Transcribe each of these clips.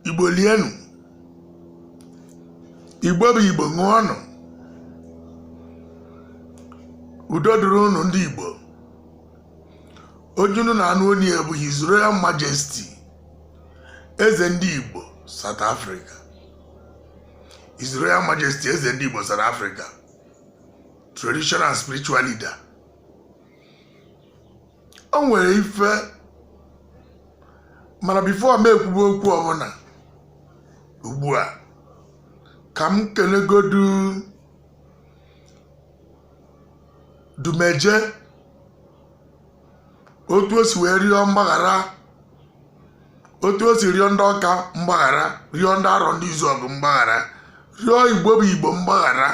igbo lienụ igbo bụ igbo ṅụọnụ udo dịrị unu ndị igbo onye unu na-anụ onu ya bụ His Royal Majesty eze ndị igbo South Africa His Royal Majesty eze ndị igbo South Africa traditional and spiritual leader o nwere ife mana before m ekwube okwu ọbụla ugbu a ka m kelegodu Odumeje otu o si wee rịọ mgbaghara otu o si rịọ ndị ọka mgbaghara rịọ ndị Arọndịzuọgụ mgbaghara rịọ igbo bụ igbo mgbaghara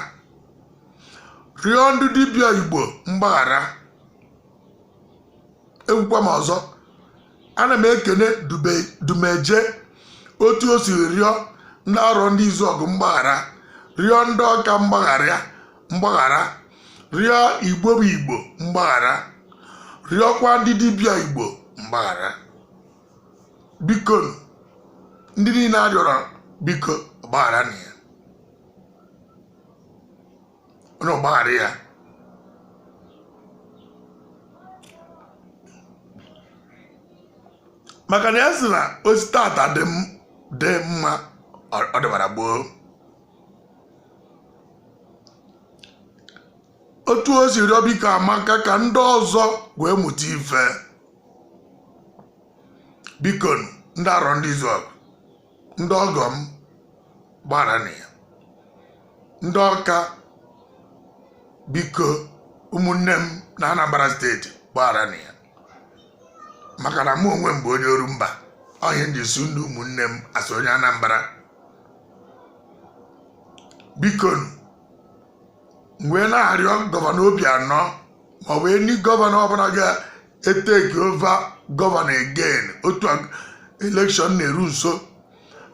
rịọ ndị dibịa igbo mgbaghara ekwukwa m ọzọ ana m ekene Odumeje otu o si rịọ ndị Arọndịzuọgụ mgbaghara rịọ ndị ọka mgbaghara mgbaghara rịọ igbo bụ igbo mgbaghara rịọkwa ndị dibịa igbo mgbaghara bikonụ, ndị niile a rịọrọ biko gbagharanụ ya unu gbaghara ya maka na ya sị na o si tata dị mma ọ dịbara gboo otu o si rịọ biko amaka ka ndị ọzọ wee mụta ife biko ndị Arọndịzuọgụ ndị ọgọ m gbagharanụ ya ndị ọka biko ụmụnne m na anambra steeti gbagharanụ ya maka na mụ onwe m bụ onye Orumba ọ ihe m ji sị unu ụmụnne m as onye anambra bikonụ m wee na-arịọ gọvanọ Obianọ maọbụ any gọvanọ ọbụla ga-etake over gọvanọ again otu election na-eru nso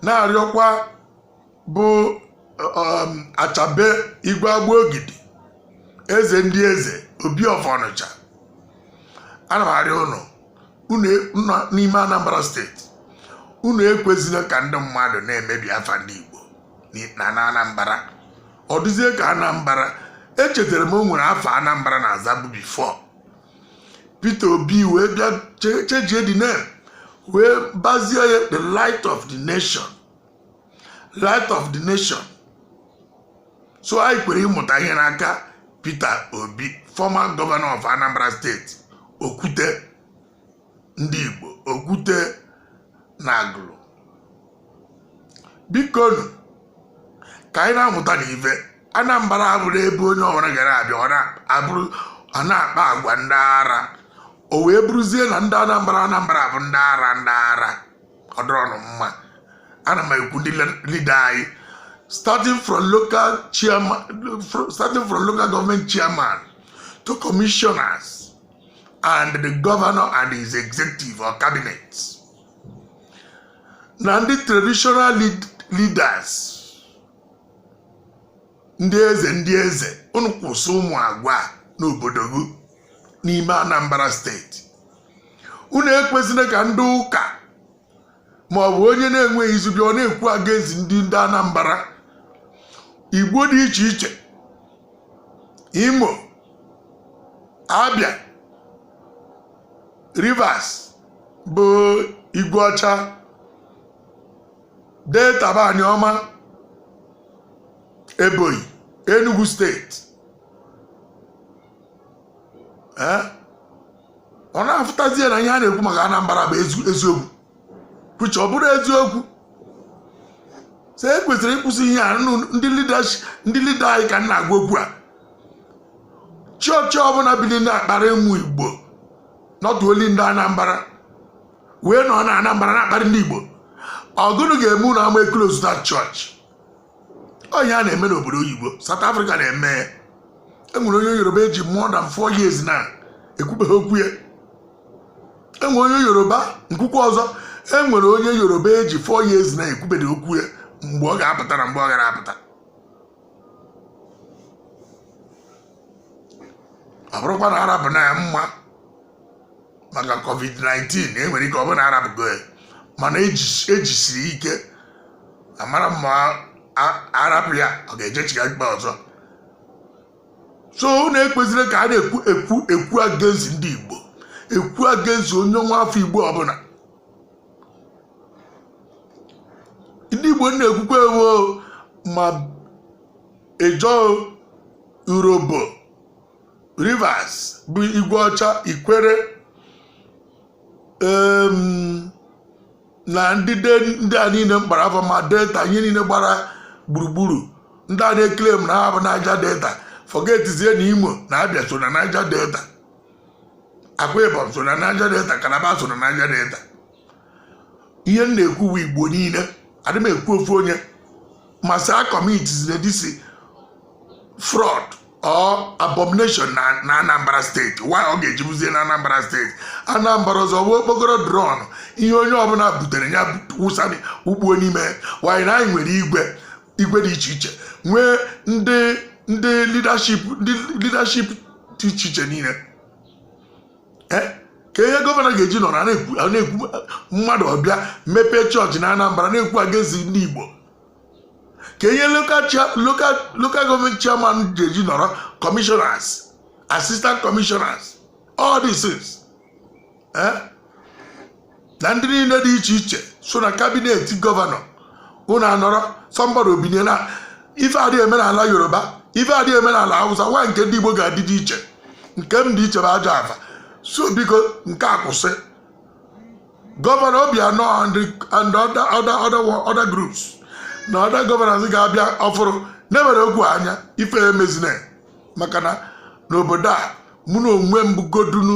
na-arịọkwa bụ Achebe igwe Agbogidi eze ndị eze obi of ọnịcha ana m arịọ unu n'ime anambra steeti unu ekwezila ka ndị mmadụ na-emebi afa ndị igbo na anambra ọ dịzie ka anambra echetara m o nwere afa anambra na azabu before peter obi wee bịa chenjie the name wee bazie ya the light of the nation light of the nation so anyị kwere ịmụta ihe n'aka peter obi former governor of anambra state okwute ndị Igbo okwute na Agụlụ bikonu ka anyị na-amụtanụ ife Anambra abụrọ ebe onye ọbụla gara abịa ọ na-akpa agwa ndị ara o wee bụrụzie na ndị Anambra Anambra bụ ndị ara ndị ara ọ dịrọnụ mma ana m ekwu ndị leader anyị starting from local government chairman to commissioners and the governor and his executive or cabinet na ndị traditional leaders ndị eze ndị eze unu kwụsị ụmụ agwa n'obodo dị n'ime Anambra steeti unu ekwezine ka ndị ụka ma ọ bụ onye na-enweghị izu bịa ọ na-ekwu against ndị ndị Anambra Igbo dị iche iche Imo Abia Rivers bụ Igwe Ọcha Delta bụ Aniọma Ebonyi Enugu steeti ee ọ na-afụtazie na ihe a na-ekwu maka Anambra bụ eziokwu which ọ bụrọ eziokwu so e kwesịrị ịkwụsị ihe a ndị leader anyị ka m na-agwa okwu a church ọbụla bili na-akparị ụmụ igbo not only ndị anambra wee nọ na anambra na-akparị ndị igbo ọ gụnụ ga-eme unu ama close that church ọ ihe a na-eme n'obodo oyibo South Africa na-eme enwere onye yoruba eji more than four years na ekwubeghị okwu ya enwere onye yoruba m kwukwa ọzọ enwere onye yoruba eji four years na ekwubeghị okwu ya mgbe ọ ga-apụta na mgbe ọ gara apụta ọ bụrụkwa na arapụna ya mma maka covid-19 e nwere ike ọ bụ na arapụgo ya mana ejisiri e ike amarọ m ma arapụ ya ọ ga-ejechigha ikpe ọzọ so unu ekwezine ka a na-ekwu against ndị Igbo ekwu against onye nwa afọ Igbo ọbụla ndị Igbo m na-ekwukwa ewu ma Ijaw Urhobo Rivers bụ igwe ọcha ikwere na ndị ndị a niile mkpara afọ ma delta ihe niile gbara gburugburu ndị a na-eklem na ha bụ Niger Delta forgetizie na imo na Abịa so na Niger Delta Akwa Ibom so na Niger Delta Calabar so na Niger Delta ihe m na-ekwu bụ igbo niile adị m ekwu ofu onye masị communities na this fraud ọ abomination na na anambra steeti why ọ ga-eji bụzie na anambra steeti anambra ọzọ bụ okpokoro drum ihe onye ọbụla butere ya wụsa ugbuo n'ime why na anyị nwere igwe igwe dị iche iche nwee ndị ndị leadership ndị leadership dị iche iche niile Eh? ka ihe gọvanọ ga-eji nọrọ a na-ekwu a na-ekwu mmadụ ọbịa mepee chọọchị na anambra na-ekwu against ndị igbo ka ihe local government chairman ga-eji nọrọ commissioners assistant commissioners all these things eh? na ndị niile dị iche iche so na kabinet gọvanọ unu anọrọ somebody obinye na ife adịghị eme n'ala yoruba ife adịghị eme n'ala hausa why nke ndị igbo ga-adị dị iche nke m dị iche bụ ajọ afa so biko nke a kwụsị gọvanọ Obianọ and other groups na other gọvanọs ga-abịa ọfụrụ na-ewere okwu anya ife emezina maka na n'obodo a mụ na onwe m bụgodunu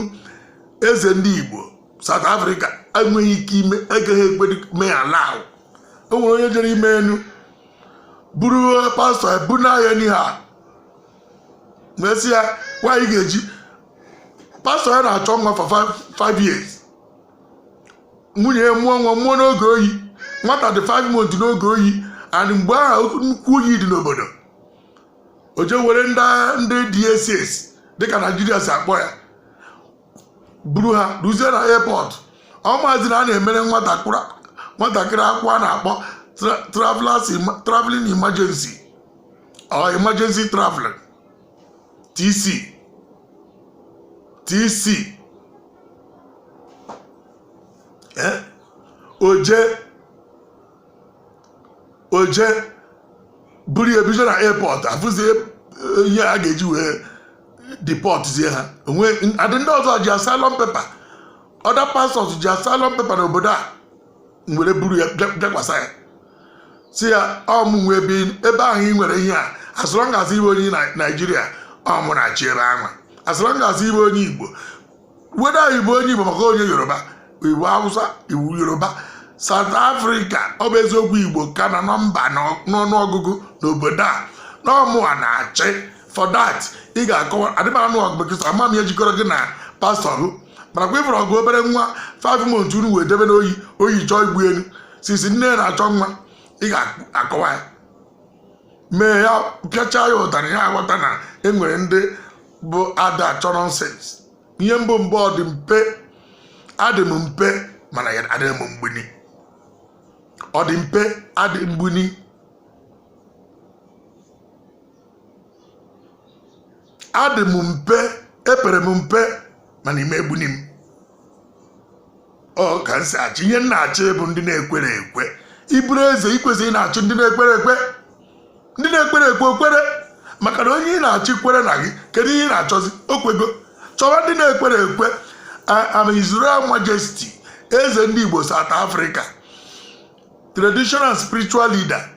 eze ndị Igbo South Africa enweghị ike ime agaghị ekwe mee ala ahụ o nwere onye jere ime enu buru pastọ ebuna ya n'ihe a mesịa nwaanyị ga-eji pastọ ya na-achọ nwa for 5 years nwunye ya mụọ nwa mụọ n'oge oyi nwata dị 5 months n'oge oyi and mgbe ahụ nnukwu oyi dị n'obodo o je were ndị agha ndị DSS dịka Naijiria si akpọ ya buru ha ruzie na airport ọ mazị na a na-emere nwatakịrị nwatakịrị akwụkwọ a na-akpọ tra- travelers em- traveling emergency or emergency traveling TC TC eh? o je o je buru ya bido na airport afụzi ihe a ga-eji wee depọtzie ha onwe adị ndị ọzọ ji asylum paper other pastors ji asylum paper n'obodo a nwere buru ya bịakwasa ya si ya ọ mụ nwe ebe ahụ ị nwere ihe a as long as ị bụ onye naijiria ọ mụ na-achị ebe ahụ as long as ị bụ onye igbo whether ị bụ onye igbo maka onye yoruba ị bụ hausa ị bụ yoruba South Africa ọ bụ eziokwu Igbo ka na nọmba n'ọnụọgụgụ n'obodo a na ọ mụwa na-achị for that ị ga-akọwa adịmanụ ọgụ bekesa ama m ihe jikọrọ gị na pastọ gị mana kwa i buru ọgụ obere nwa 5 months unu wee debe n'oyi oyi chọọ igbu elu sisi nne ya na-achọ nwa ị ga-akọwa ya mee ya pịachaa ya ụtarị ya aghọta na e nwere ndị bụ ada achọ nonsense ihe m bụ bụ ọ dị mpe adị m mpe mana ya adịghị m mgbuni ọ dị mpe adị mgbuni adị m mpe epere m mpe mana ị ma egbuni m ọ ka m si achị ihe m na-achị bụ ndị na-ekwere ekwe ị bụrụ eze i kwesị ịna-achị ndị na-ekwere ekwe ndị na-ekwere ekwe o kwere maka na onye ị na-achị kwere na gị kedu ihe ị na-achọzi o kwego chọwa ndị na-ekwere ekwe I am His Royal Majesty eze ndị Igbo South Africa traditional spiritual leader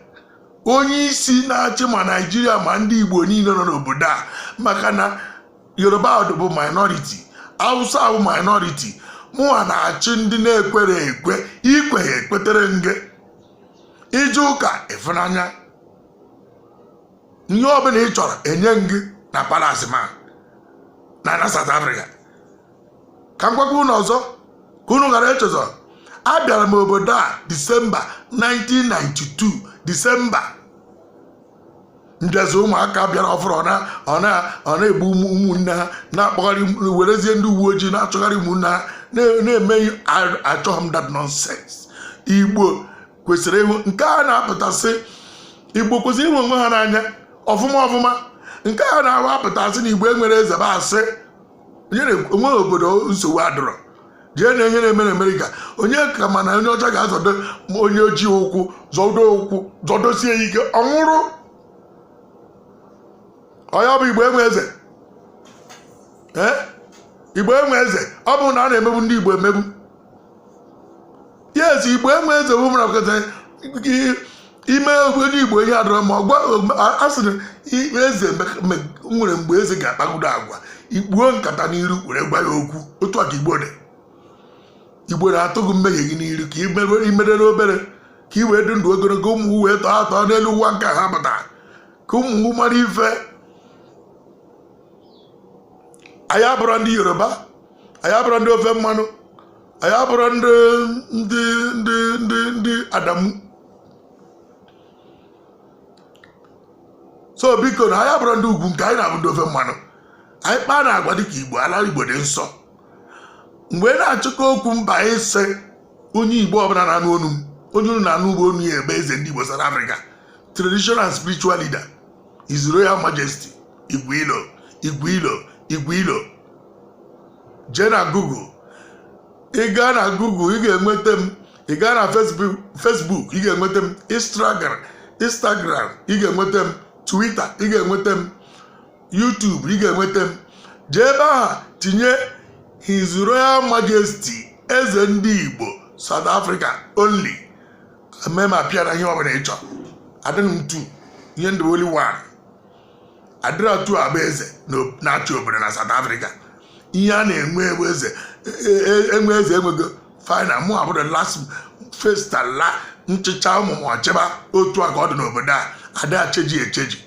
onye isi na-achị ma naijiria ma ndị igbo niile nọ n'obodo a maka na yoruba bụ minority hausa bụ minority mụnwa na-achị ndị na-ekwere ekwe i kweghị ekwetere gị ije ụka ịfụnanya ihe ọbụla ị chọrọ enye gị na palace m a na na South Africa ka m gwakwa unu ọzọ ka unu ghara echezọ abịara m obodo a disemba 1992 disemba ndịzi ụmụaka bịara ọfụrụ na-egbu ụmụnne ha na-akpọgharị werezie ndị uwe ojii na-achọgharị ụmụnne ha na-eme achọghị m that nonsense igbo kwesịrị ịhụ nke a na-apụtasị igbo kwesịrị ịhụ onwe ha n'anya ọfụma ọfụma nke a na-ahụ apụtasị na igbo enwere eze bụ asị o nwe obodo nsogbu adịrọ jee nee ihe na-eme na amerịka onye ka ma na onye ọcha ga-azọdo onye ojii ụkwụ zọdo ụkwụ zọdosie ya ike ọ nwụrụ ọ ya bụ igbo enwe eze ee igbo enwe eze ọ bụ na a na-emegbu ndị igbo emegbu yes igbo enwe eze bụ mara kweta i mee onye igbo ihe adịrọ mma ọ gwa a sịrị ime eze nwere mgbe eze ga-akpagodo agwa i kpuo nkata n'iru were gwa ya okwu otu a ka igbo dị igbo na-atụ gị mmehie gị n'iru ka imerere obere ka i wee dị ndụ ogologo ụmụ wee tọọ atọ n'elu ụwa nke a pụta ka unu mara ife anyị abụrọ ndị yoruba anyị abụrọ ndị ofe mmanụ anyị abụrọ ndị ndị ndị ndị ndị adamu so biko nụ anyị abụrọ ndị ugwu nke anyị na-abụ ndị ofe mmanụ anyị kpaa nụ agwa dịka igbo ala igbo dị nsọ mgbe ị na-achịkọ okwu m ba isi onye igbo ọbụla na-anụ onu m onye unu na-anụ ugbo onu ya bụ eze ndị igbo South Africa traditional and spiritual leader His Royal Majesty Igwe Ilo Igwe Ilo Igwe Ilo jee na Google ị gaa na Google ị ga-enweta m ị gaa na Facebook Facebook ị ga-enweta m Instagram Instagram ị ga-enweta m Twitter ị ga-enweta m YouTube ị ga-enweta m jee ebe ahụ tinye His Royal Majesty eze ndị Igbo South Africa only m ma appear na ihe ọbụla ị chọ adịrọ m two ihe m dị bụ only one adịrọ two abụ eze na- na-achị obodo na South Africa ihe a na-enwe enwe eze e- e- enwe eze enwego final mụ abụrụ last first and last m chịchaa ụmụ m ọchịba otu a ka ọ dị n'obodo a ada echenji echenji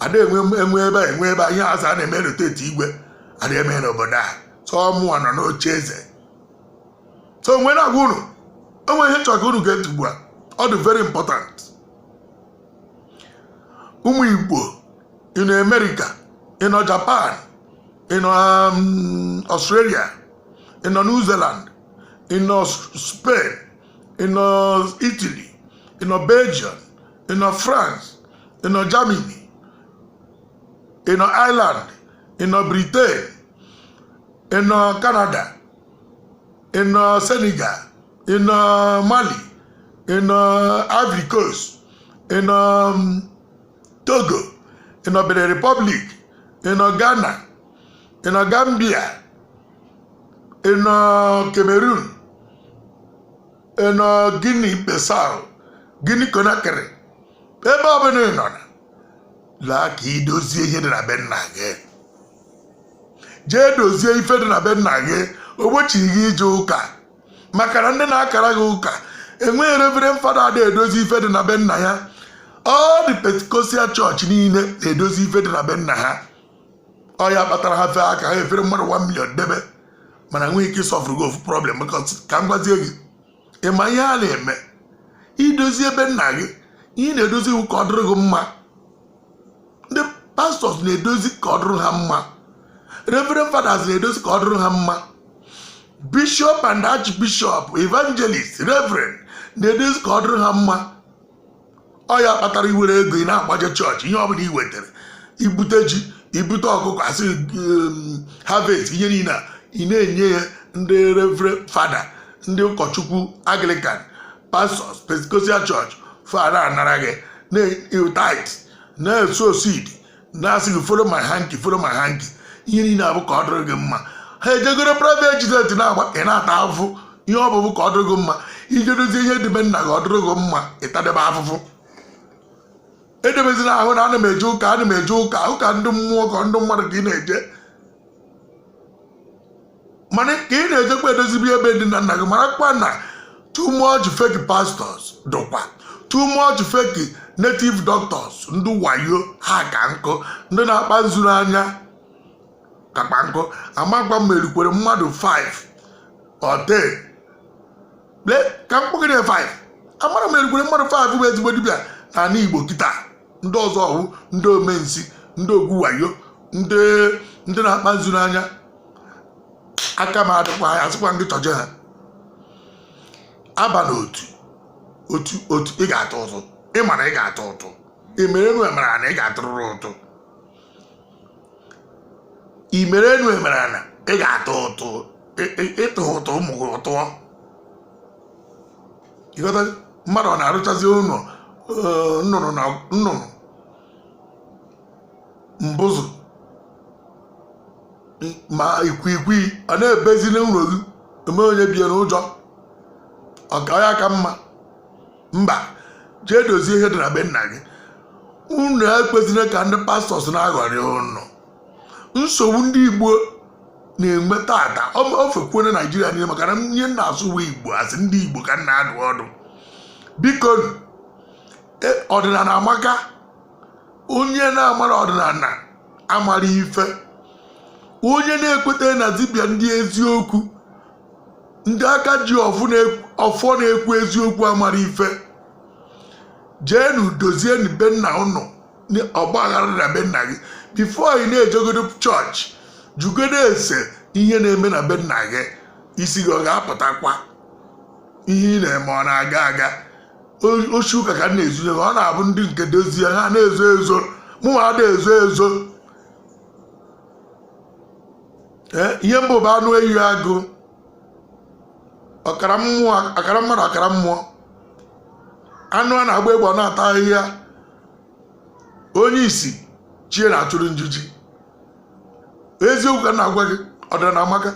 ada enwe enwe ebe a enwe ebe a ihe azụ a na-eme rotate igwe ada eme n'obodo a sọ mụwa nọ n'oche eze so m wee na-agwa unu o nwe ihe m chọrọ ka unu gee ntị ugbu a ọ dị very important ụmụ igbo ị nọ america ị nọ japan ị nọ um, australia ị nọ new zealand ị nọ spain ị nọ italy ị nọ belgium ị nọ france ị nọ germany ị nọ ireland ị nọ britain ị nọ Canada ị nọ Senegal ị nọ Mali ị nọ Ivory Coast ị nọ um, Togo ị nọ Benin Republic ị nọ Ghana ị nọ Gambia ị nọ Cameroon ị nọ Guinea Bissau Guinea Conakry ebe ọbụla ị nọ na laa ka ị dozie ihe dị na be nna gị jee dozie ife dị na be nna gị ogbochighị gị ije ụka maka na ndị na-akara gị ụka enweghị reverend father ada edozi ife dị na be nna ya all the pentecostal church niile na-edozi ife dị na be nna ha ọ ya kpatara ha fee aka ha efere mmadụ 1 million debe mana enweghị ike ịsolvurụ gị ofu problem ka m gwazie gị ị ma ihe a na-eme idozi ebe nna gị ihe ị na-edozi wụ ka ọ dịrị gị mma ndị pastors na-edozi ka ọ dịrị ha mma reverend fathers na-edozi ka ọ dịrị ha mma bishop and archbishop evangelist reverend na-edozi ka ọ dịrị ha mma ọ ya kpatara iwere ego ị na-agbaje chọọchị ihe ọbụla i wetara ibute ji ibute ọkụkọ asị um, harvest ihe niile a ị na-enye ya ndị reverend fada ndị ụkọchukwu anglican pastors pentecostal church fa ana anara gị na tithe na sow seed na-asị gị follow my hanky follow my hanky ihe niile a bụ ka ọ dịrị gị mma ha eje goro private jet na-agba ị na-ata afụfụ ihe ọ bụ bụ ka ọ dịrị gị mma ije dozie ihe dị be nna gị ọ dịrị gị mma ị tadebe afụfụ edebezila ahụ na ana m eje ụka ana m eje ụka ụka ndị mmụọ ka ndị mmadụ ka ị na-eje mana ka ị na-ejekwa edozibe ebe ndị nna nna gị marakwa na too much fake pastors dụkwa too much fake native doctors ndị wayo ha ka nkụ ndị na-akpa nzu n'anya kakpa nkụ amakwa m erukwere mmadụ 5 or 10 ka m kpọgide 5 amarọ m erukwere mmadụ 5 bụ ezigbo dibịa n'ala igbo kịta ndị ọzọ ọ wụ ndị ome nsi ndị ọgwụ wayo ndị ndị na-akpa nzu n'anya aka m adịkwa ya asịkwa ndị chọje ha aba na otu otu otu ị ga-atụ ụtụ ị mara ị ga-atụ ụtụ ị mere enu emere ana ị ga-atụrụrụ ụtụ imere enu emere ana ị ga-atụ ụtụ ị tụ ụtụ ụmụ gị atụọ ịghọta mmadụ ọ na-arụchazi ụlọ eh, nnụnụ na nnụnụ mbụzụ ma ikwikwii ọ na-ebezi n'ụlọ gị eme onye bie n'ụjọ ọ kwa ya ka mma mba jee dozie ihe dị na be nna gị unu ekwezina ka ndị pastors na-aghọrị ụnụ nsogbu ndị igbo na-enwe tata ofekwuo na naijiria niile maka na ihe m na-asụ wụ igbo asị ndị igbo ka m na-adụ ọdụ biko e, ọdịnala amaka onye na-amara ọdịnala amara ife onye na-ekweta na dibịa ndị eziokwu ndị aka ji ọfọ na-ekwu eziokwu amara ife jeenu dozienu be nna ụnụ ọgba aghara na be nna gị before ị na-ejegodo chọọchị jụgodo ese ihe na-eme na be nna gị isi gị ọ ga-apụtakwa ihe ị na-eme ọ na-aga aga oshi ka a ka na-ezu ọ na-abụ ndị nke dozie ha na-ezo ezo mụnwa ada ezo ezo ihe mbụ bụ anụ ehi agụ ọkara mmadụ ọkara mmụọ anụ a na-agba egbe ọ na-ata ahịhịa onye isi chie na-achụrụ njiji eziokwu ka m na-agwa gị ọdịnala amaka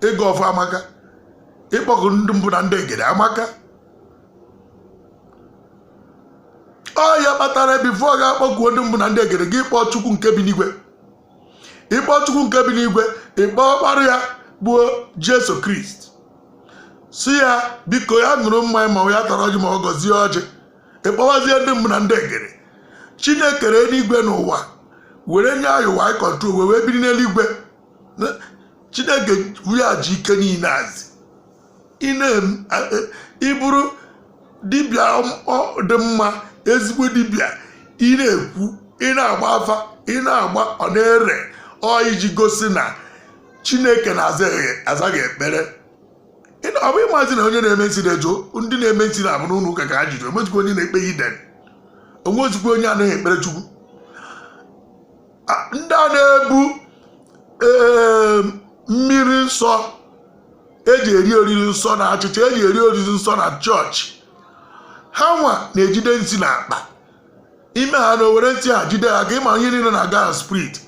ịgọ ọfọ amaka ịkpọku ndị mbụ na ndị egede amaka ọ ya kpatara before ị ga-akpọkuo ndị mbụ na ndị egede gị kpọọ chukwu nke bi n'igwe ị kpọọ chukwu nke bi n'igwe ị kpọọ ọkpara ya bụ jesu kristi sị ya biko ya ṅụrụ mmanya ma ya tara ọjị ma ọ gọzie ọjị ị kpọwazie ndị mbụ na ndị egede chineke kere eluigwe na ụwa were nye anyị ụwa anyị control wee wee biri n'eluigwe chineke nwa ji ike niile a sị ị bụrụ dibịa dị mma ezigbo dibịa ị na-ekwu ị na-agba afa ị na-agba ọ na-ere ọ iji gosi na chineke na-aza gị ekpere ọ bụ ị mazi na onye na-eme nsị na-eje ndị na-eme nsị na ọ bụ n'ụlọ ụka ka ha juru o nwezikwa onye na-ekpe heathen o nwezikwa onye anaghị ekpere chukwu ndị a na-ebu ee, mmiri nsọ eji eri oriri nsọ na achịcha eji eri oriri nsọ na church ha nwa na-ejide nsị na akpa ime ha na-ewere nsị ha jide ha ka ị ma ihe niile na-aga na spirit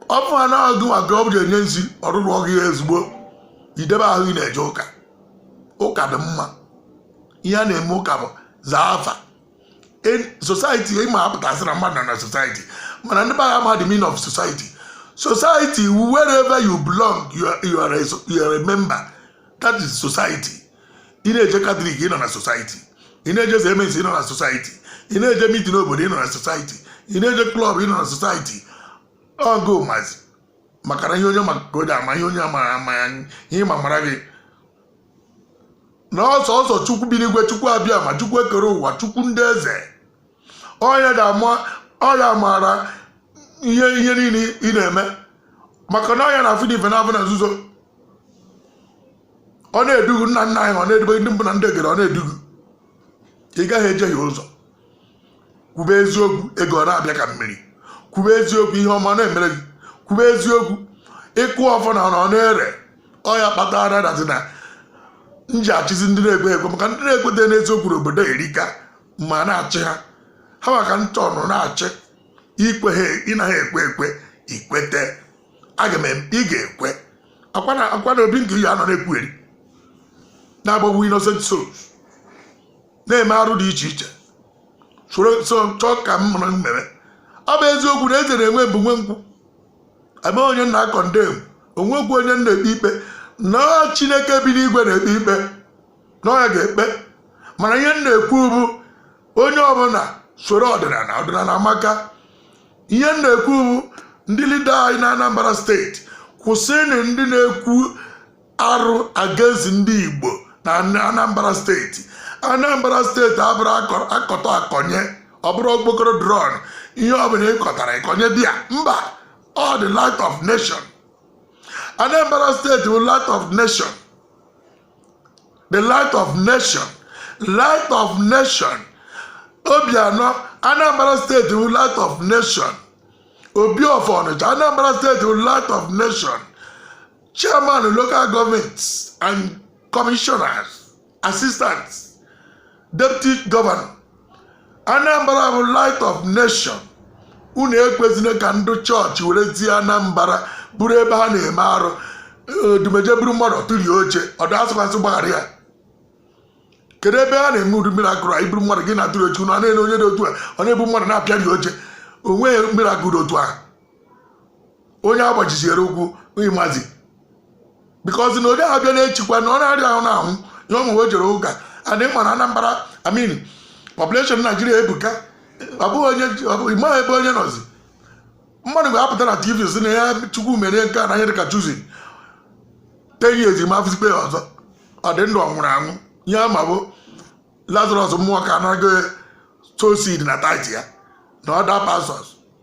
ọ bụ ha na-ahụ gị maka ọ bụ enye nsị ọrụrụ ọgụ ya ezigbo idebe ahụ ị na-eje ụka ụka dị mma ihe a na-eme ụka bụ zaa afa society ị maa pụtasị na mmadụ nọ na society mana ndị be anyị amaghị the meaning of society society wherever you belong you are, you are, a, you are a member that is society ị na-eje catholic ị nọ na society ị na-eje CMS ị nọ na society ị na-eje meeting obodo ị nọ na society ị na-eje club ị nọ na society ọgụ mazi maka na ihe onye ma ka o ji ama ihe onye amaghị ama ya ihe ma mara gị na ọsọ ọsọ chukwu bi n'igwe chukwu abịama chukwu ekere ụwa chukwu ndị eze ọ ya ga-ama ọ ya maara ihe ihe niile ị na-eme maka na ọ ya na-afụ n'ife na-afụ na nzuzo o na-edu gị nna nna anyị o na-edube gị ndị mbụ na ndị egede o na-edu gị ị gaghị ejehie ụzọ kwube eziokwu ego ọ na-abịa ka mmiri kwube eziokwu ihe ọma na-emere gị kwube eziokwu ị kụọ ọfọ na ọ na-ere ọ ya kpatara that is na m ji achịzi ndị na-ekwe ekwe maka ndị na-ekweta n'eziokwu n'obodo erika m na-achị ha ha maka ntọ nọ na-achị ikwe ha ị naghị ekwe ekwe i kweta aga m ị ga-ekwe akwa na obi nke ya nọ na-ekwugheri na-agbagbu innocent souls na-eme arụ dị iche iche soro so chọọ ka m mara mmere ọ bụ eziokwu na eze na-enwe bụ nwe nkwụ ebe onye m na-condemn onwekwu onye m na-ekpe ikpe na chineke bi n'igwe na-ekpe ikpe na ọ ya ga-ekpe mana ihe m na-ekwu bụ onye ọbụla soro ọdịnala ọdịnala amaka ihe m na-ekwu bụ ndị leader anyị na anambra steeti kwụsịnị ndị na-ekwu arụ against ndị Igbo na Anambra steeti Anambra steeti abụrọ akọta akọnye ọ bụrọ okpokoro drum ihe ọ bụla ị kọtara ị kọnye di ya mba o the light of nation Anambra steeti bụ light of nation the light of nation light of nation Obianọ Anambra steeti bụ light of nation Obi of Ọnịcha Anambra steeti bụ light of nation chairman local government and commissioners assistant deputy governor anambra bụ light of nation unu ekwezina ka ndị chọọchị werezie anambra bụrụ ebe ha na-eme arụ odumeje buru mmadụ tụrie oche ọdụ asịkwasị gbaghara ya kedu ebe a na-eme ụdị miracle a ị buru mmadụ gị na-atụrụ oche unu a na-ele onye dị otu a ọ na-ebu mmadụ na-apịari oche onweghị miracle otu ahụ onye agbajiziere ụkwụ ịmazi because na onye abịa na-echikwa na ọ na-arịa ahụ na-ahụ ya ụmụ o jere ụka adị mma na Anambra I mean population Naijiria ebuka ọ bụghị onye ịmaghị ebe onye nọzi mmadụ ga-apụta na tv si na ya chukwu mere nke a na ihe dịka chuzi ten years ma afụzikwa ya ọzọ ọ dị ndụ ọ nwụrụ anwụ ihe ama bụ Lazarus Muoka anaghị sow seed na tithe ya na other pastors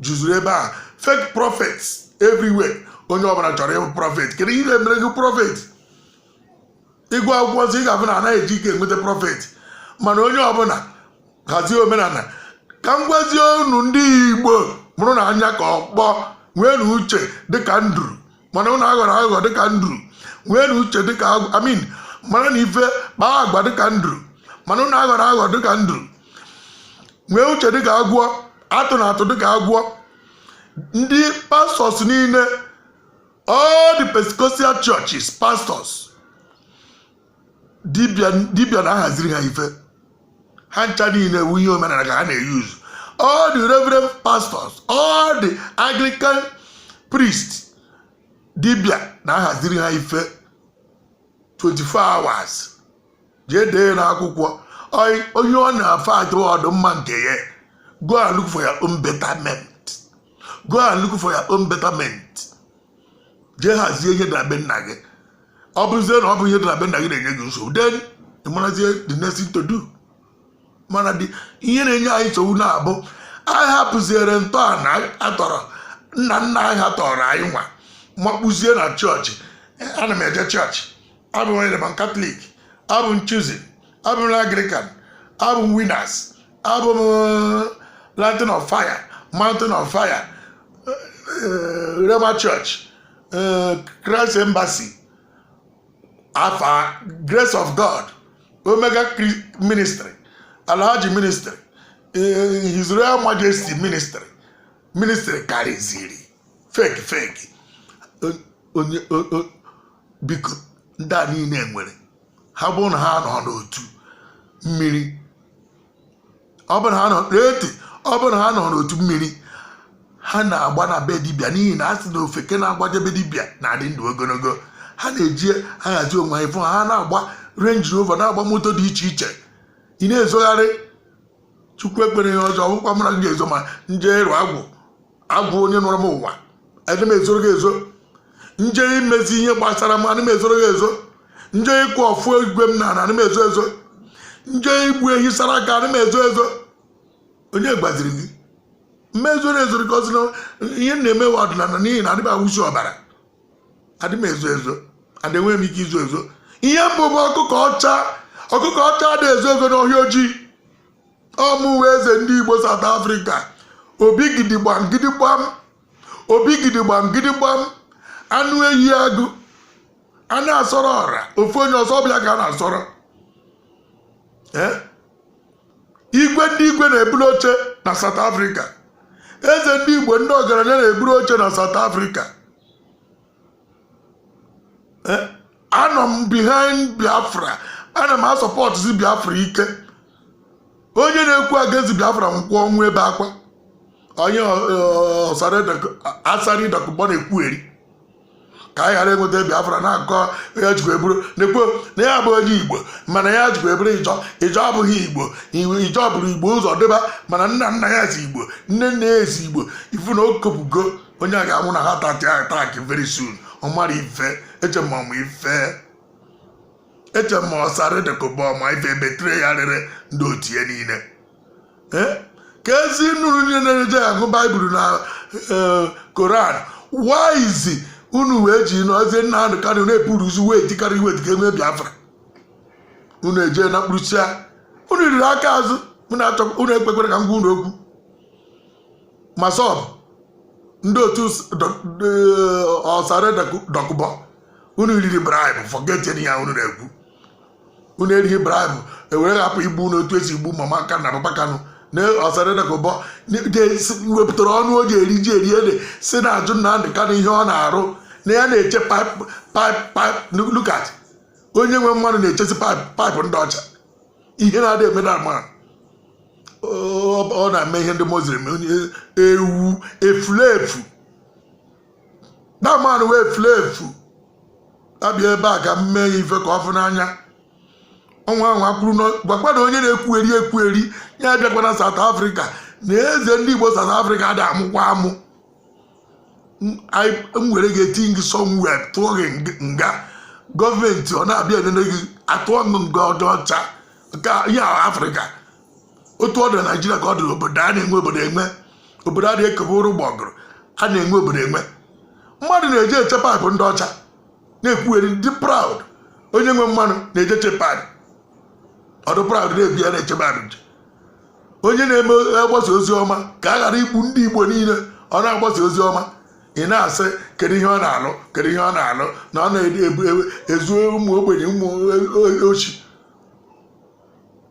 juzuru ebe a fake prophets everywhere onye ọbụla chọrọ ịbụ prophet kedu ihe mere gị prophet ị gụa akwụkwọ nsọ ị ga-afụ na anaghị eji ike enweta prophet mana onye ọbụla hazie omenala ka m gwazie unu ndị igbo mụrụnụ anya ka ọkpọ nweenụ uche dịka nduru mana ụnụ aghọrọ aghụghọ dịka nduru nweenụ uche dịka agwọ I mean maranụ ife kpaa agwa dịka nduru mana ụnụ aghọrọ aghụghọ dịka nduru nwee uche dịka agwọ atụna atụ dịka agwọ ndị pastors niile all the Pentecostal churches pastors dibia na-ahaziri ha ife ha ncha niile ewu ihe omenala ka ha na-euse all the reverend pastors all the anglican priests dibia na-ahaziri ha ife 24 hours jee dee na akwụkwọ onye ọ na-afa achọ ọdịmma nke ya go and look for your own betterment go and look for your own betterment jee hazie ihe na be nna gị ọ bụzie na ọ bụ ihe dị na be nna gị na-enye gị nsogbu then ị marazie the next thing to do mana dị ihe na-enye anyị nsogbu na-abụ anyị hapụziere ntọala atọrọ nna nna anyị ha tọrọ anyị nwa makpụzie na chọọchị ana m eje chọọchị abụ m Roman Catholic abụ m Chosen abụ m Anglican abụ m Winners abụ m lantern of fire mountain of fire Rhema church eh, Christ Embassy Alpha Grace of God Omega Ministry Alhaji Ministry eh, His Royal Majesty Ministry Ministry karịziri fake fake biko ndị a niile nwere ha bụ na ha nọ n'otu mmiri ọ bụrụ ha nọ n'eti ọ bụrụ ha nọ n'otu mmiri ha na-agba na be dibịa n'ihi na a sị na ofeke na-agbaje be dibịa na-adị ndụ ogologo ha na-eji ahazi onwe ha ị fụ ha na-agba Range Rover na-agba moto dị iche iche ị na-ezogharị chukwu ekpere ihe ọzọ ọ bụkwa mara gị ga-ezo ma m je ịrụ agwụ agwụ onye nọrọ m ụwa adị m ezoro gị ezo m je imezi ihe gbasara m ana m ezoro gị ezo m je ịkụ ọfọ igwe m na ana m ezo ezo m je igbu ehi sara aka ana m ezo ezo onye gwaziri gị m zoro ezo ka ọ sị na ihe m na-eme wụ ọdịnala n'ihi na adị m awụsi ọbara adị m ezo ezo adị enweghị m ike izo ezo ihe m bụ bụ ọkụkọ ọcha ọkụkọ ọcha adị ezo ezo n'ọhịa ojii ọ mụwa eze ndị igbo South Africa obi gidigbam gidigbam obi gidigbam gidigbam anụ ehi agụ a na-asọrọ ọra ofu onye ọsọ ọbịa ka a na-asọrọ Eh? igwe ndị igwe na-eburu oche na South Africa eze ndị igbo ndị ọgaranya na-eburu oche na South Africa eh, anọ m behind biafra ana m asọpọtụzi biafra ike onye na-ekwu against biafra nkwụ ọnwụ ebe akwa onye Asari Dokubo na-ekwugheri ka anyị ghara enweta biafra na-akọ ya jikwa eburu na-ekwu na ya bụ onye igbo mana ya jikwa eburu Ijaw Ijaw abụghị igbo Ijaw buru igbo ụzọ dịba mana nna nna ya si igbo nne nne ya si igbo ị fụ na o kopụgo onye a ga-anwụ na heart attack very soon ọ mara ife eche ma ọ ma ife eche ma Asari Dokubo ọ ma ife betrayer rere ndị otu ya niile Eh? ka ezi nụrụ niile na-eje agụ baịbụl na eh, koran waizi unu wee ji Mazi Nnamdi Kanu na-epuru uzu wee tikarị iwe dịka e nwee biafra unu eje na mkpụrụsia unu riri aka azụ unu achọ- unu ekpekwere ka m gwa unu okwu MASSOB ndị otu Asari Dokubo unu riri bribe forget ya unu na-ekwu unu erighị bribe ewere hapụ igbu unu otu esi igbu mama kanụ na papa kanụ na Asari Dokubo wepụtara ọnụ o ji eri ji eri ede sị na-ajụ Nnamdị Kanụ ihe ọ na-arụ na ya na-eche pipe pipe pipe look at onye nwe mmanụ na-echesi pipe pipe ndị ọcha ihe na-adị eme that man ọ na-eme ihe ndị Muslim onye ewu efulefu that man wụ efulefu abịa ebe a ka m mee ya ife ka ọ fụ n'anya ọ nwaa anwa kwụrụ n'ọ- gwakwa na onye na-ekwugheri ekwugheri ya abịakwana South Africa na eze ndị Igbo South Africa ada amụkwa amụ m were gị eti gị somewhere tụọ gị nga gọọmenti ọ na-abịa enene gị atụọ gị nga ọdụ ọcha nke ihe afrịka otu ọ dị na naijiria ka ọ dị obodo a na-enwe obodo enwe obodo a na-ekebe ụrụ gbọgụrụ a na-enwe obodo enwe mmadụ na-eje eche pipe ndị ọcha na-ekwugheri dị proud onye nwe mmanụ na-eje eche pipe ọ dị proud na-ebi ya na-eche pipe onye na-eme agbasa ozi ọma ka a ghara igbu ndị igbo niile ọ na-agbasa ozi ọma ị na-asị kedu ihe ọ na-alụ kedu ihe ọ na-alụ na ọ na-ezu ụmụ ogbenye ụmụ oshi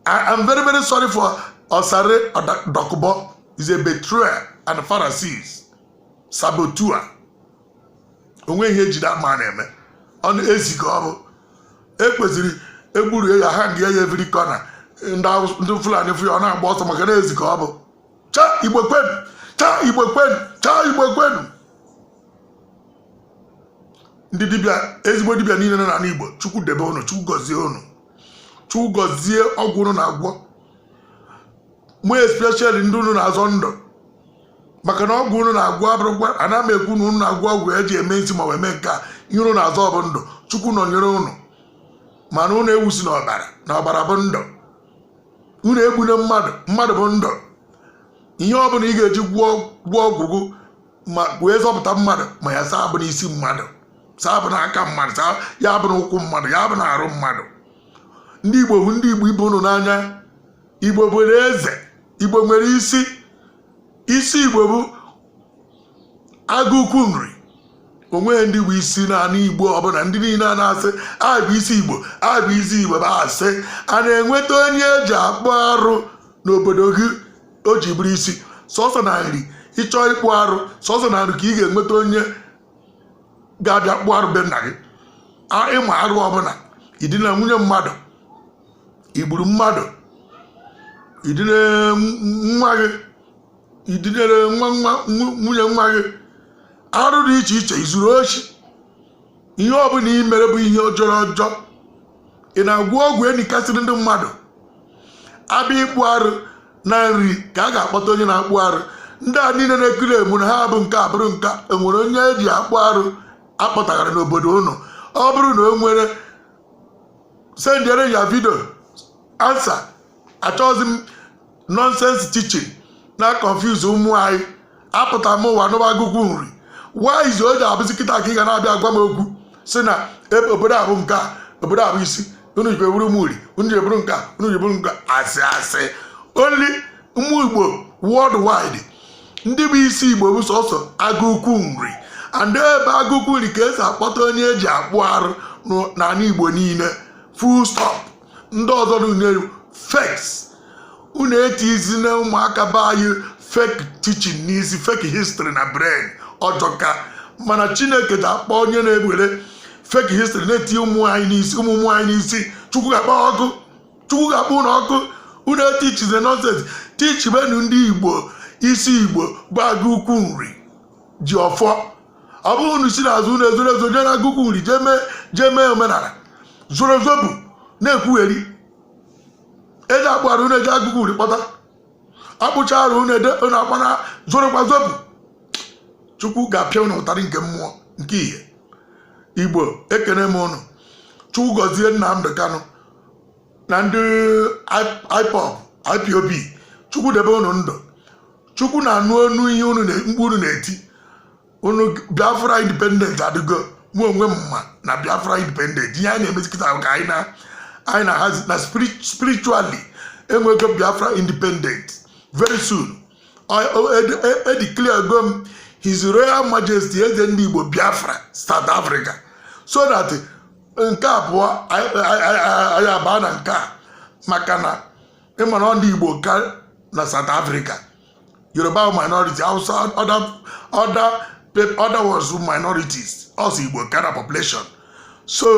I'm very very sorry for Asari Dokubo is a betrayer and Pharisees saboteur onweghị ihe e ji that man eme ọ na ezi ka ọ bụ ekwesịrị egburu ya hang ya every corner ndị fulani fụ ya ọ na-agba ọsọ maka na ezi ka ọ bụ cha igbo kwenu cha igbo kwenu cha igbo kwenu ndị dibịa ezigbo dibịa niile nọ n'anị igbo chukwu debe unu chukwu gọzie unu chukwu gọzie ọgwụ unu na-agwọ mụ especially ndị unu na-azọ ndụ maka na ọgwụ unu na-agwọ abụrụkwa ana m ekwu na unu na-agwọ ọgwụ eji eme isi ma wee mee nke a ihe unu na-azọ bụ ndụ chukwu nọnyere unu mana unu awụsina ọbara na ọbara bụ ndụ unu egbune mmadụ mmadụ bụ ndụ ihe ọ bụla ị ga-eji gwọọ ọgwụ gị ma wee zọpụta mmadụ ma ya saa abụna isi mmadụ saa abụna aka mmadụ saa ya abụna ụkwụ mmadụ ya abụna arụ mmadụ ndị igbo hụ ndị igbo ibe unu n'anya igbo nwere eze igbo nwere isi isi igbo bụ agụkwu nri onweghị ndị bụ isi n'anị igbo ọbụla ndị niile a na-asị abụ isi igbo abụ isi igbo bụ asị a na-enweta onye eji akpụ arụ n'obodo gị o ji bụrụ isi sọsọ na nri ị chọọ ịkpụ arụ sọsọ na nri ka ị ga-enweta onye ga-abịa kpụ arụ be nna gị ịma arụ ọbụla i dina nwunye mmadụ i gburu mmadụ i dine nwa gị i dinere nwa nwa nwunye nwa gị arụ dị iche iche i zuru oshi ihe ọbụla i mere bụ ihe jọrọ ọjọ ị na-agwọ ọgwụ enikasịrị ndị mmadụ abịa ịkpụ arụ na nri ka a ga-akpọta onye na-akpụ arụ ndị a niile na-ekiri emu na ha bụ nke a bụrụ nke a e nwere onye eji akpụ arụ akpọtagara n'obodo unu ọ bụrụ na o nwere sendere ya video answer achọghịzi m nonsense teaching na-confuse ụmụ anyị apụta m ụwa n'ụwa agụkwu nri whyzi o ji abụzi kịta ka ị ga na-abịa agwa m okwu sị na e, obodo a bụ nke a obodo a bụ isi unu ji eburu m uri unu ji eburu nke a unu ji eburu nke a asị asị only ụmụ igbo worldwide ndị bụ isi igbo bụ sọsọ agụkwu nri and ebe agụkwu nri ka esi akpọta onye eji akpụ arụ n'ala igbo niile full stop ndị ọzọ niile fakes unu etizina ụmụaka be anyị fake teaching n'isi fake history na brain ọ jọka mana chineke ga-akpọ onye na-ewere fake history na-eti ụmụ anyị n'isi ụmụ ụmụ anyị n'isi chukwu ga-akpọ ọkụ chukwu ga-akpọ unu ọkụ unu eteachize nonsense teachibenu ndị igbo isi igbo bụ agụ ukwu nri ji ọfọ ọ bụghị unu si n'azụ unu ezoro ezo jee na agụ ukwu nri jee mee jee mee omenala zoro zobu na-ekwugheri eje akpụ arụ unu eje agụ ukwu nri kpọta akpụchaa arụ unu ede unu akpana zorokwa zobu chukwu ga-apịa unu ụtarị nke mmụọ nke ihe igbo ekene m unu chukwu gọzie nnamdi kanu na ndị IPOB IPOB chukwu debe unu ndụ chukwu na-anụ onu ihe unu mkpu unu na-eti unu biafra independent adịgo mụ onwe m ma na biafra independent ihe anyị na-emezi kịta ka anyị na anyị na-ahazi na spiritually enwego biafra independent very soon edeclarego m his royal majesty eze ndị igbo biafra south africa so that nke abụọ anyị abaa na nke a maka na ị mara ndị Igbo ka na South Africa Yoruba minority Hausa other other other ones minorities ọ sọ Igbo ka na population so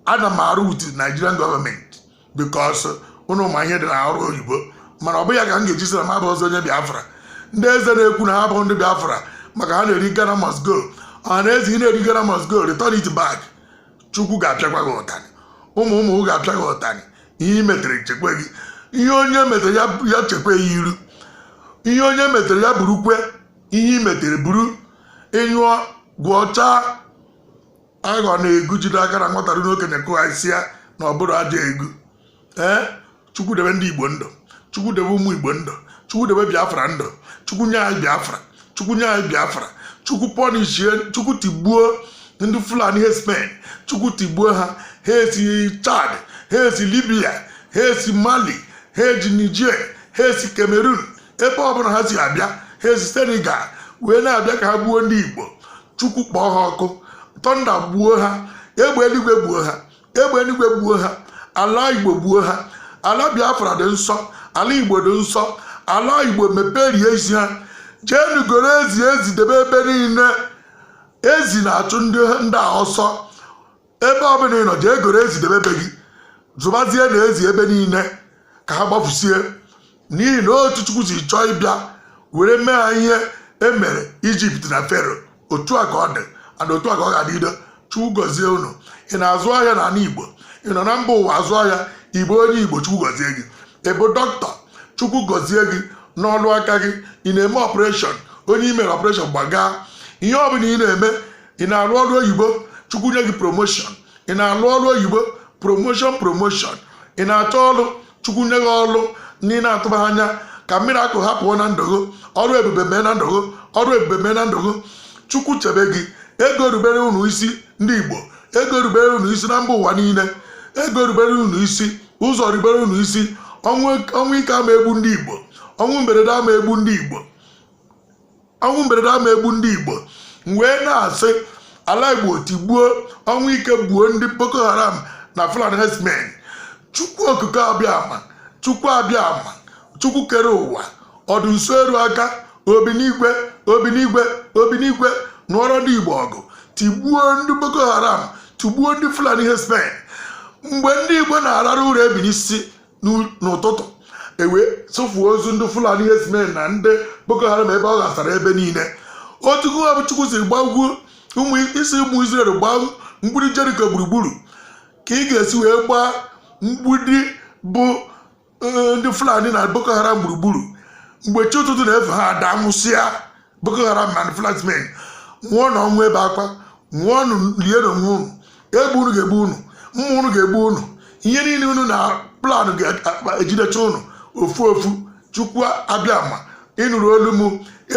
ana m arụ with Nigerian government because unu ma ihe dị na ọrụ oyibo mana ọ bụ ya ka m ga-eji sị na m abụrọzi onye biafra ndị eze na-ekwu na ha bụ ndị biafra maka ha na-eri ghana must go ọha na eze ị na-eri ghana must go return it back chukwu ga-apịakwa gị ụtarị ụmụ ụmụ gị ga-apịa gị ụtarị ihe i metere chekwe gị ihe onye metere ya ya chekwe ya iru ihe onye metere ya burukwe ihe i metere buru ị nyụọ gwọchaa aghọ na-egu jide aka na nwata ruo okenye kụghaisia na ọ bụrụ aja egu ee eh? chukwu debe ndị igbo ndụ chukwu debe ụmụ igbo ndụ chukwu debe biafra ndụ chukwu nye anyị biafra chukwu nye anyị biafra chukwu pọnishie chukwu tigbuo ndị fulani herdsmen chukwu tigbuo ha ha esi chad ha esi libya ha esi mali ha esi niger ha esi cameroon ebe ọbụla ha si abịa ha esi senegal wee na-abịa ka ha gbuo ndị igbo chukwu kpọọ ha ọkụ tọnda gbuo ha egbe eluigwe gbuo ha egbe eluigwe gbuo ha ala igbo gbuo ha ala biafra dị nsọ ala igbo dị nsọ ala igbo mepe riezie ha jeenu goro ezi ezi debe ebe niile ezi na-achụ ndị a ọsọ ebe ọ bụla ị nọ jee goro ezi debe ebe gị zụbazienụ ezi ebe niile ka ha gbafusie n'ihi na otu chukwu si chọọ ịbịa were mee ha ihe e mere ijipt na fero otu a ka ọ dị and otu a ka ọ ga-adịdo chukwu gọzie unu ị na-azụ ahịa na ala igbo ị nọ na mba ụwa azụ ahịa igbo onye igbo chukwu gọzie gị ị bụ dọkịta chukwu gọzie gị n'ọlụ aka gị ị na-eme ọpụreshọn onye i mere ọpụreshọn gbagaa ihe ọ bụla ị na-eme ị na-alụ ọrụ oyibo chukwu nye gị promoshọn ị na-alụ ọrụ oyibo promoshọn promoshọn ị na-achọ ọrụ chukwu nye gị ọrụ na ị na-atụba anya ka miracle happen na ndụ gị ọrụ ebube mee na ndụ gị ọrụ ebube mee na ndụ gị chukwu chebe gị ego rubere unu isi ndị igbo ego rubere unu isi na mba ụwa niile ego rubere unu isi ụzọ rubere unu isi ọnwụ ike ama egbu ndị igbo ọnwụ mberede ama egbu ndị igbo ọnwụ mberede ama egbu ndị igbo m wee na-asị ala igbo tigbuo ọnwụ ike gbuo ndị boko haram na fulani herdsmen chukwu okike abịama chukwu abịama chukwu kere ụwa ọdị nso eru aka obi n'igwe obi n'igwe obi n'igwe nụọrọ ndị igbo ọgụ tigbuo ndị boko haram tigbuo ndị fulani herdsmen mgbe ndị igbo na-arara ụra ebinie isi n'ụtụtụ ewee tụfuo ozu ndị fulani herdsmen na ndị boko haram ebe ọ ghasara ebe niile otu gụwa bụ chukwu si gbagwuo sị ụmụ israel gbaa mgbidi jeriko gburugburu ka ị ga-esi wee gbaa mgbidi bụ eh, ndị fulani na boko haram gburugburu mgbe chi ụtụtụ na-efo ha ada nwụsịa Boko Haram na Fulani herdsmen nwụọnụ ọnwụ ebe akwa nwụọnụ lienụ onwe unu egbe unu ga-egbu unu mma unu ga-egbu unu ihe niile unu na-plan ga-ejidecha unu ofu ofu chukwu abịama ị nụrụ olu m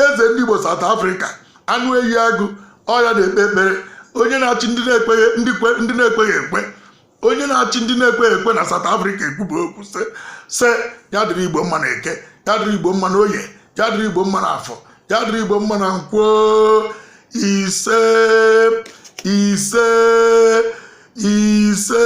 eze ndị Igbo South Africa anụ eyi agụ ọ ya na-ekpe ekpere onye na-achị ndị na-ekweghị ekwe onye na-achị ndị na-ekwe ekwe na South Africa ekwuba okwu sị ya dịrị igbo mma na eke ya dịrị igbo mma na oye ya dịrị igbo mma na afọ ya dịrị igbo mma na nkwọ ise ise ise